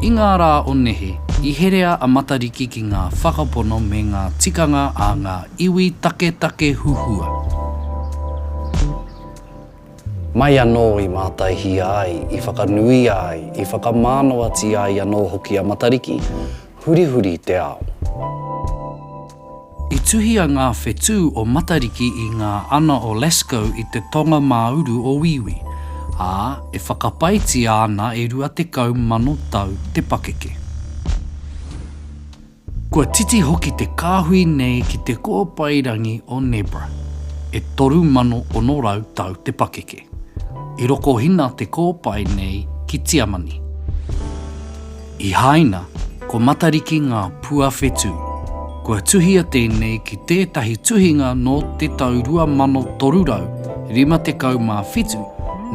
I ngā rā o nehe, i herea a Matariki ki ngā whakapono me ngā tikanga a ngā iwi taketake huhua. Mai anō i mātaihia ai, i whakanuia ai, i whakamānawatia ai anō hoki a Matariki, hurihuri te ao. I tuhia ngā whetū o Matariki i ngā ana o Lascaux i te tonga mā uru o Wīwī, ā, e whakapaetia ana e 20,000 tau te pakeke. Kua titi hoki te kāhui nei ki te kōpairangi o Nebra, e 3,600 tau te pakeke. I rokohina te kōpae nei ki Tiamani. I Haina, ko Matariki ngā pua whetū. Kua tuhia tēnei ki tētahi tuhinga nō te tau 2357,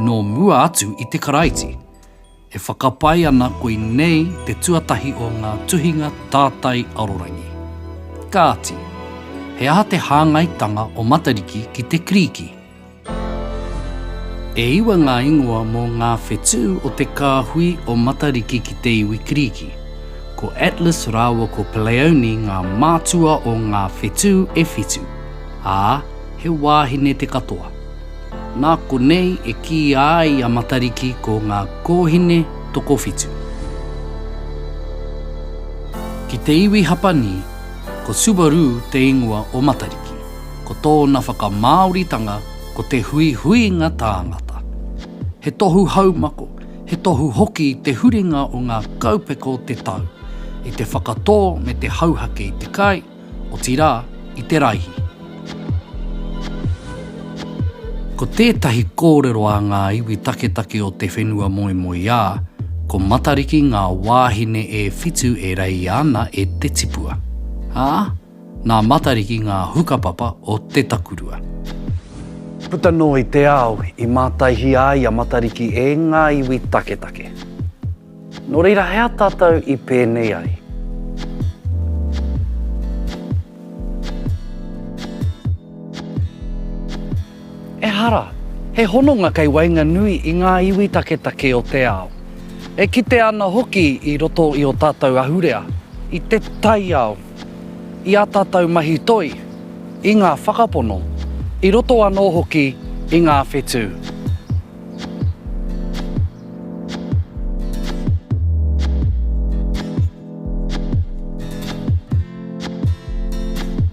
nō mua atu i te Karaiti. E whakapae ana koinei te tuatahi o ngā tuhinga tātai arorangi. Kāti, he aha te hāngaitanga o Matariki ki te Kirīki? E iwa ngā ingoa mō ngā whetū o te kāhui o Matariki ki te iwi Kirīki. Ko Atlas rāua ko Pleione ngā mātua o ngā whetū e whitu, ā, he wāhine te katoa. Nā konei e kīia ai a Matariki ko ngā kōhine tokowhitu. Ki te iwi Hapani, ko Subaru te ingoa o Matariki. ko tōna whakamāoritanga ko te huihuinga tāngata. He tohu haumako, he tohu hoki te huringa o ngā kaupeka o te tau, i te whakatō me te hauhake i te kai, otirā, i te raihi. Ko tētahi kōrero a ngā iwi taketake o te whenua moemoeā, ko Matariki ngā wāhine e whitu e reia ana e te tipua, ā, Nā Matariki ngā hukapapa o te takurua. Puta noa i te ao, i mātaihia ai a Matariki e ngā iwi taketake. Nō reira, he aha tātou i pēnei ai? Ehara, he hononga kei waenganui i ngā iwi taketake o te ao. E kitea ana hoki i roto i ō tātou ahurea, i te taiao, i ā tātou mahi toi, i ngā whakapono, i roto anō hoki i ngā whetū.